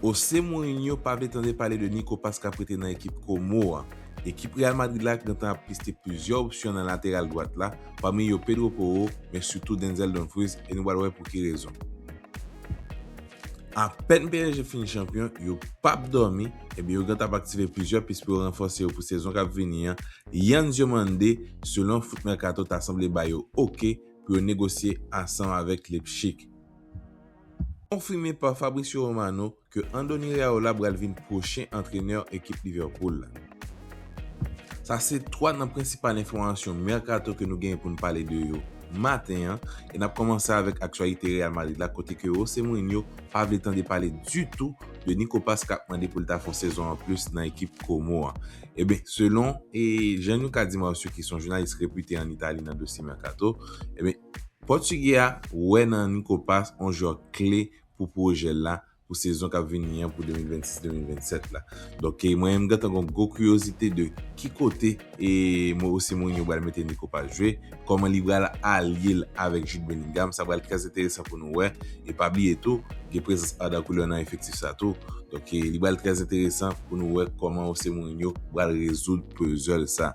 Jose Mourinho pa vle tande pale de Nico Paz k ap rete nan ekip Como a. Ekip Real Madrid la gentan ap piste plizyè opsyon nan lateral dwat la, pami yo Pedro Porro, men sitou Denzel Dumfries e nou pral wè pou ki rezon. Apèn psg fin chanpyon, yo pa p dòmi, ebyen yo gentan ap aktive plizyè pis pou yo ranfòse yo pou sezon k ap vini an, Yan Diomande, selon Foot Mercato ta sanble ba yo ok pou yo negosye ansanm avèk Leipzig. Konfime pa Fabrizio Romano ke Andoni Iraola pral vin pwochen antrenè ekip Liverpool la. Sa se 3 nan prensipal enfòmasyon merkato ke nou genyen pou n pale de yo maten an e n ap kòmanse avèk aktyalite Real Madrid la kote ke Jose Mourinho pa vle tande pale ditou de Nico Paz kap mande pou l ta fè yon sezon anplis nan ekip Como an. Eben selon Gianluca Di Marzio ki se yon jounalis repite an Itali nan dosye merkato, eben Pòtugè a wè nan Nico Paz yon jwè kle pou pwojè l la pou sezon k ap vini an pou 2026-2027 la. Donk mwen menm m gentan gen yon gwo kiyozite de ki kote José Mourinho pral mete Nico Paz jwe, kòman li pral alye l avèk Jude Bellingham, sa pral trè enteresan pou nou wè. E pa bliye tou, gen prezans Arda Güler nan efektif sa tou. Donk li pral trè enteresan pou nou wè kòman José Mourinho pral rezoud puzzel sa.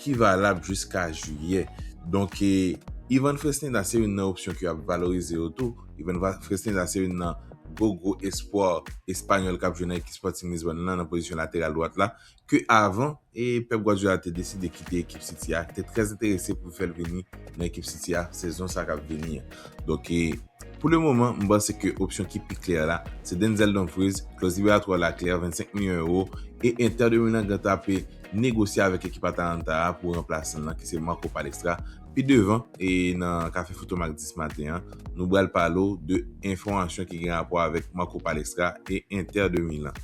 ki valab jiska jiyè donk Ivan Fresneda se youn nan opsyon ke yo ap valorize yo tou Ivan Fresneda se youn nan gwo gwo espwa espanyòl kap jwe nan ekip Sporting Lisbonne lan nan pozisyon lateral dwat la ke avan Pep Guardiola te deside kite ekip City a te trè enterese pou fèl vini nan ekip City a sezon sa kap vini an donk pou le moman m panse ke opsyon ki pi klè la se Denzel Dumfries klòz liberatoire la klè 25 milyon euro e Inter de Milan gen ta pe negosye avèk ekip Atalanta a pou ranplasan l lan ki se Marco Palestra. Pi devan e nan Kafe Foto Mak 10 maten an, nou bral pale w de enfòmasyon ki gen rapò avèk Marco Palestra e Inter de Milan.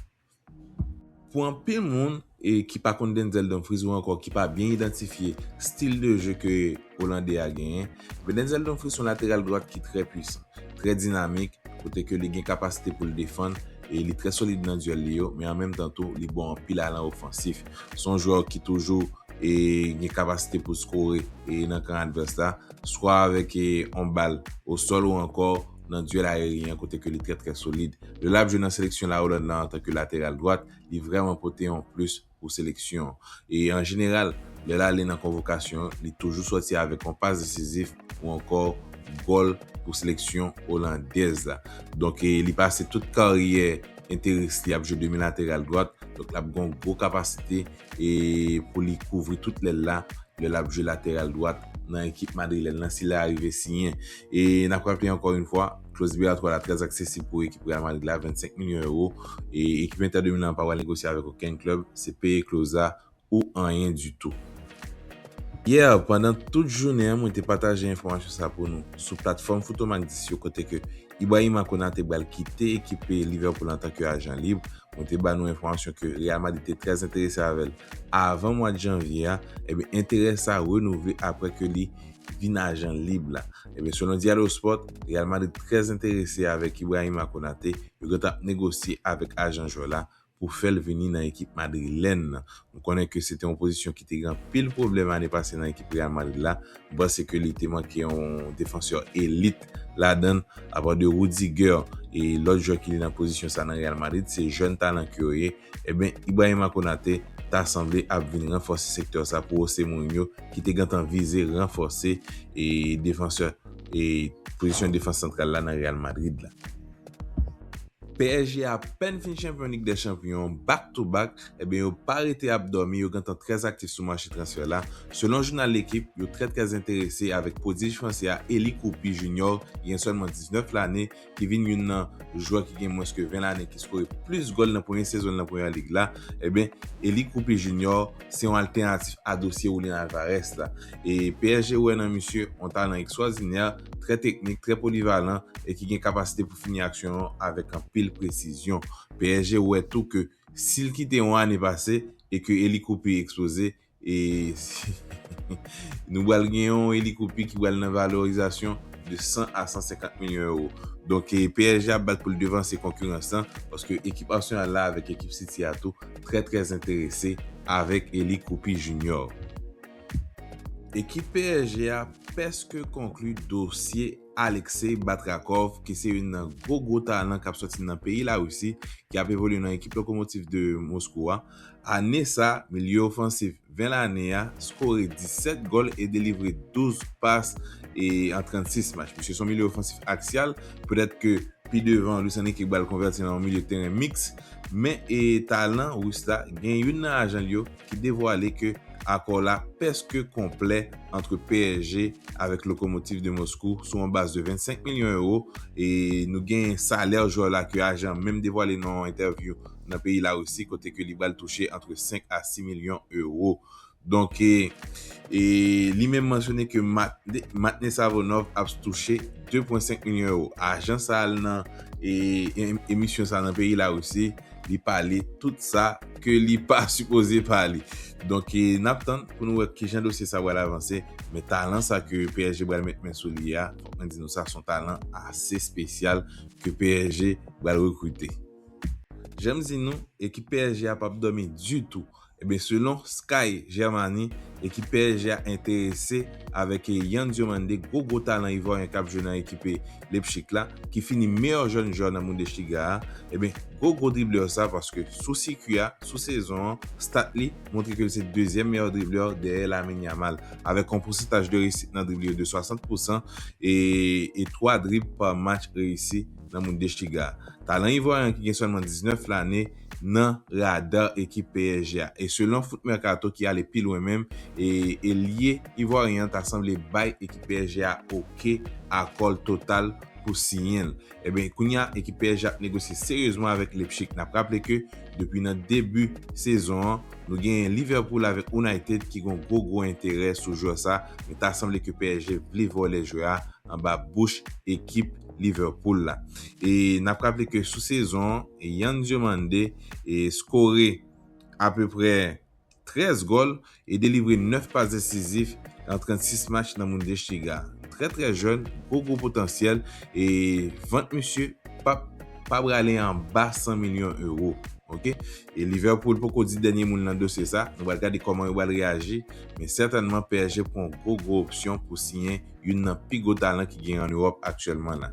Pou anpil moun e ki pa konn Denzel Dumfries ou ankò ki pa byen idantifye stil de je ke Olandè a genyen, Venenzel Dumfries son lateral dwat ki trè pwisan, trè dinamik, kote ke li gen kapasite pou l defann e li trè solid nan duel li yo, men an menm tan tou li bon anpil a lan ofansif. Son jwè ki toujou e gen kapasite pou skore e nan kan advès la, swa avèk e on bal o sol ou ankò nan duel aeryen kote ke li trè trè solid. Lè lap jwe nan seleksyon la Hollande la antan ke lateral dwat, li vrèman pote on plis. pou seleksyon e an jeneral lè l ale nan konvokasyon li toujou sòti avèk yon pas desizif ou ankò gòl pou seleksyon olandèz la donk li pase tout karyè enteris li ap jwe demi lateral dwat donk l ap gen yon gwo kapasite pou li kouvri tout lèl la lè l ap jwe lateral dwat nan ekip madrilèn lan si l arive siyen e n ap raple ankò yon fwa. Kloz BR 3 la trè aksesib pou ekip Real Madrid la, 25 milyon ewo, e ekip Inter de Milan an pa pral negosye avèk okenn klèb, se peye kloz la ou anyen ditou. Yè, pandan tout jounen an mwen te pataje enfòmasyon sa pou nou sou platfòm Foutomak 10 yo kote ke Ibrahima Konate pral kite ekip Liverpool antan ke ajan lib, mwen te ba nou enfòmasyon ke Real Madrid te trè enterese avèl avan mwad Janvye a, enben enterè sa renouvle aprè ke li vin ajan lib la. Ebyen selon Diallo Sport, Real Madrid trè enterese avèk Ibrahima Konate, yo gentan ap negosye avèk ajan jwè la pou fè l vini nan ekip madrilèn nan. Nou konnen ke se te yon pozisyon ki te gen anpil pwoblèm ane pase nan ekip Real Madrid la, nou panse ke li te manke yon defansè elit ladan l, apa de Rudiger e lòt jwè ki li nan pozisyon sa nan Real Madrid, se jèn talan ke yo ye. Eben Ibrahima Konate ta sanble ap vin ranfòse sektè sa pou Ose Mourinho ki te gentan vize ranfòse e defansè e pozisyon defans santral la nan Real Madrid la. Psg apèn fin chanpyon Lig dè Chanpyon back to back, eben yo pa rete ap dòmi yo gentan trè aktif sou mache transfè la, selon jounal L'Equipe yo trè trè enterese avèk pwodij fransè a Eli Koupi Junior ki gen sèlman 19 lane ki vin youn nan jwè ki gen mwens ke 20 lane ki skore plis gòl nan premye sezon l nan Premier League la, eben Eli Kruppi Junior se yon altènatif a dosye Julian Alvarez la. E psg wè nan misye yon talan ekstwòdinè, trè teknik, trè polivalan e ki gen kapasite pou fini aksyon yo avèk anpil presizyon. Psg wè tou ke si l kite yon ane pase e ke Eli Kruppi eksploze, E nou bal gen yon elikopye ki bal nan valorizasyon de 100 a 150 milyon ewo. Donk psg ap bat pou l devanse konkirans lan paske ekip Arsenal la avèk ekip City a tou trè trè enterese avèk Eli Koupi Junior. Ekip psg a pèske konkli dosye Alexei Batrakov ki se youn nan gwo gwo talan kap sòti nan peyi Larisi ki ap evolye nan ekip Lokomotiv de Moskou a, ane sa milye ofansif 20 lane a skore 17 gòl e delivre 12 pas an 36 match. Misye se yon milye ofansif aksyal, petèt ke pi devan Luis Enrique pral konvèti nan yon milye teren miks, men talan Rus la gen youn nan ajan l yo ki devwale ke akò la pèske konplè antre psg avèk Lokomotiv de Moskou sou yon baz de 25 milyon ewo e nou gen salè jwè la ke ajan menm devwale nan yon entèvyou nan peyi Larisi kote ke li bal touche antre 5 a 6 milyon ewo. Donk e li menm mansyone ke Matne Savonov ap stouche 2.5 milyon ewo. Ajan sa al nan e emisyon sa nan peyi Larisi li pale tout sa ke li pa sipoze pale. Donk n ap tann pou nou wè kijan dosye sa pral avanse. Men talan sa ke psg pral met men sou li a, fòk mwen di nou sa, se yon talan ase espesyal ke psg pral rekrite. Jan m di nou, ekip psg a p ap dòmi ditou Ebyen selon Sky Germany, ekip psg a enterese avèk Yann Diomande gwo gwo talan Ivoryen kap jwe nan ekipe Leipzig la, ki fini meyè jèn jwè nan Bundesliga a, ebyen gwo gwo driblè sa paske sou sikui a, sou sezon an, stat li montre ke li se dezyèm meyè driblè dèyè Lamine Yamal, avèk yon pousantaj de reyisit nan drib li yo de 60 pousan e e 3 drib pa match reyisi nan Bundesliga a. Talan Ivoryen an ki gen sèlman 19 lane, nan radar ekip psg a e selon Foot Mercato ki ale pi lwen menm e elye ivoiryen an ta sanble bay ekip psg a ok akò l total pou siyen l. Ebyen kounye a ekip psg ap negosye seryezman avèk Leipzig. Nap raple ke depi nan debi sezon an nou genyen Liverpool avèk United ki gon gwo gwo enterè sou jwè sa men ta sanble ke psg vle vòlè jwè a anba bouch ekip Liverpool la e nap raple ke sou sezon Yann Diomande skore apeprè 13 gòl e delivre 9 pas desizif nan 36 match nan Bundesliga. Trè trè jèn, gwo gwo potansyèl e vant misye pap pa prale anba 100 milyon ewo ok. E Liverpool poko di dènye mo l nan dosye sa, nou pral gade kòman yo pral reyaji men sètènman psg pran yon gwo gwo opsyon pou siyen youn nan pi gwo talan ki gen an Ewòp aktyèlman la.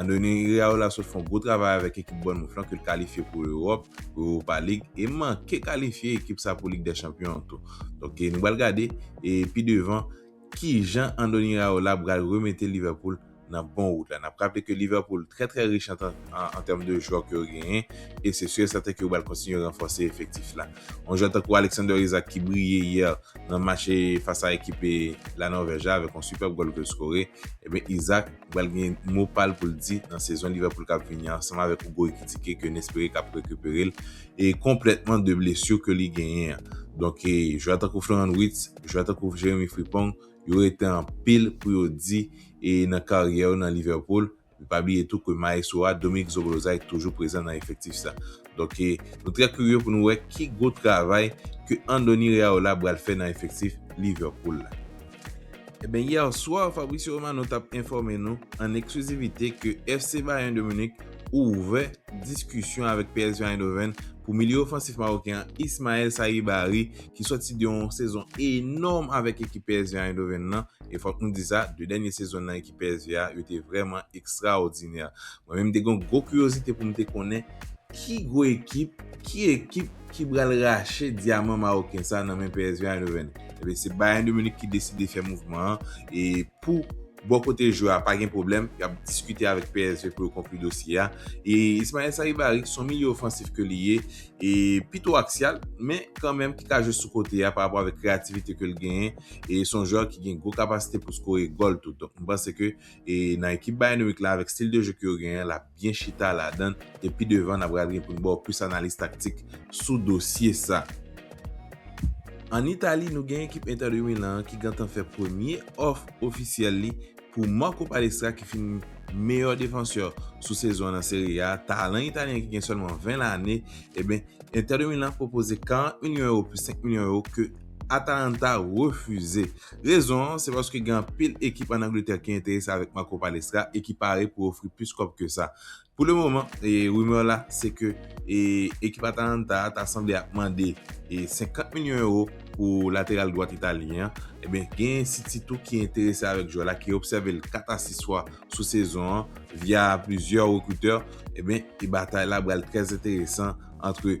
Andoni Iraola sot fon gwo travay avèk ekip Bournemouth lan ke l kalifye pou Ewòp, pou Europa League e manke kalifye ekip sa pou Lig dè Chanpyon an tou. Donk nou pral gade pi devan kijan Andoni Iraola pral remete Liverpool nan bon wout la. N ap raple ke Liverpool trè trè rich an tèm de jwè ke yo genyen e se su e sèten ke yo pral kontinye ranfòse efektif la. Yon jwè tankou Alexander Isak ki briye yè nan match fas a ekip La Nòvèj la avèk yon sipèb gòl ke l skore, enben Isak, Li pral gen mo pa l pou l di nan sezon Liverpool kap vini an ansanm avèk Hugo Ekitike ke n espere kap rekipere l e konplètman de blesur ke li genyen an. Donk jwè tankou Florent Wirtz, jwè tankou Jeremie Frimpong yo rete anpil pou yo di e nan karyè yo nan Liverpool. E pa bliye tou ke maestro a Dominique Zoboslai toujou prezan nan efektif sa. Donk nou trè kurye pou nou wè ki gwo travay ke Andoni Reaola bral fè nan efektif Liverpool la. Ebyen yè swa Fabrizio Romano tap enfòme nou an eksklizivite ke FC Bayern de Munich ouvè diskisyon avèk PSV Eindhoven pou milye ofansif maroken an Ismael Saibari ki sòti de yon sezon enòm avèk ekip PSV Eindhoven nan e fòk nou di sa 2 dènye sezon nan Pèzi a, yo te vrèman ekstraòdinè. Mwen menm m te gen yon gwo kiryozite pou m te konnen ki gwo ekip, ki ekip ki pral rache dyaman mawoken sa nan men Pèzi Eindhoven. Enben, se Bayern de Munich ki deside fè mouvman an e pou bò kote jwè a pa gen pwoblèm, y ap diskite avèk psg pou yo konkli dosye a. E Ismael Sarri Barry ki se yon milye ofansif ke li ye e pito aksyal men kanmenm ki ka jwe sou kote a parapò avèk kreyativite ke l genyen, e son jwè ki gen gwo kapasite pou skore gòl tou donk m panse ke e nan ekip Bayern Munich la avèk stil de jeu ke yo genyen lap byen chita ladann e pi devan na pral gen pou n ba w plis analiz taktik sou dosye sa. An Itali nou gen ekip Inter de Milan an ki gentan fè premye òf ofisyèl li pou Marco Palestra ki fini meyè defansè sou sezon an nan Serie A, talan italyen ki gen sèlman 20 lane, eben Inter de Milan pwopoze 40 milyon ewo plis 5 milyon ewo ke Atalanta refize. Rezon an, se paske gen anpil ekip an Angletè ki enterese avèk Marco Palestra e ki pare pou ofri plis kòb ke sa. Pou le moman, rumeur la se ke ekip Atalanta a ta sanble ap mande 50 milyon euro pou lateral dwat Italyen an. Ebyen, gen City tou ki enterese avèk jwè la, ki obsève l 4 a 6 fwa sou sezon an via plizyè rekritè. Ebyen, batay la pral trè enteresan antre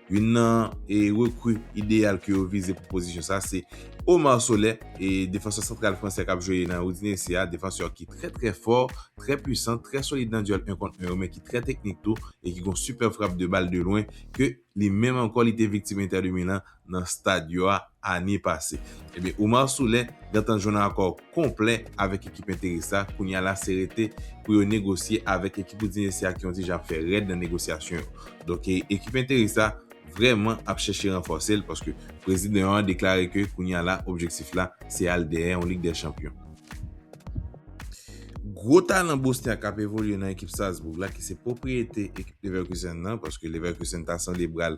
Youn nan rekri ideyal ke yo vize pou pozisyon sa se Omar Solè, defansè santral fransè kap jwe nan Udinese a, defansè ki trè trè fò, trè pwisan, trè solid nan dyèl 1 kont 1 yo men ki trè teknik tou e ki gon sipèb frap de bal de lwen ke li menm ankò li te viktim Inter de Milan nan Stadio a ane pase. Ebyen Oumar Souleh gentan jwenn akò konplè avèk ekip enteris la, kounye a la se rete pou yo negosye avèk ekip Udinese a ki yon ti jan ap fè rèd nan negosyasyon yo. Donk ekip enteris la vrèman ap chèche ranfòse l paske prezidan an deklare ke kounye a la objektif la se al dèyè yon lig dè chanpyon. Gwo talan bosnyak k ap evolye nan ekip Salzbourg la ki se pwopriyete ekip Leverkusen nan paske Leverkusen ta sende bra l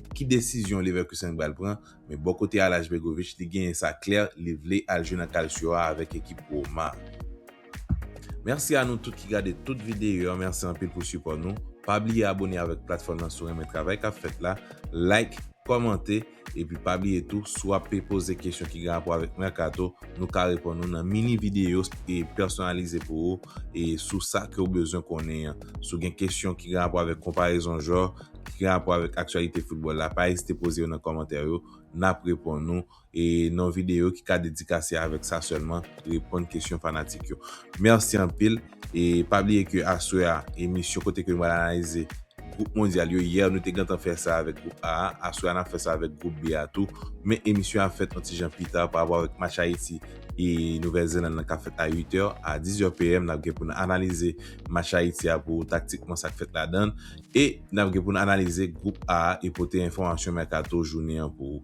ki desizyon Leverkusen pral pran, men bò kote Alex Begovic li genyen sa klè li vle al jwe nan Calcio a avèk ekip Roma. Mèsi a nou tout ki gade tout videyo yo mèsi anpil pou sipò nou pa bliye abone avèk platfòm nan si w renmen travay kap fèt la like kòmante epi pa bliye tou si w ape poze kesyon ki gen rapò avèk mercato nou ka reponn ou nan mini videyo pèsonalize pou ou sou sa ke w bezwen konnen an si w gen kesyon ki gen rapò avèk konparezon jwè ki gen rapò avèk aktyalite foutbòl la pa ezite poze yo nan kòmantè yo nap reponn ou e nan videyo ki ka dedikase avèk sa sèlman reponn kesyon fanatik yo mèsi anpil e pa bliye ke aswè a emisyon kote ke nou pral analize gwoup mondyal yo yè nou te gentan fè sa avèk gwoup A a aswè a nap fè sa avèk gwoup B a tou men emisyon an ap fèt yon ti jan pi ta pa rapò avèk match Ayiti e Nouvèl Zeland lan kap fèt a 8 è a 10 è PM nap gen pou nou analize match Ayiti a pou ou taktikman sak fèt ladann. E n ap gen pou n analize Gwoup A e pote enfòmasyon mèkato jounen an pou ou.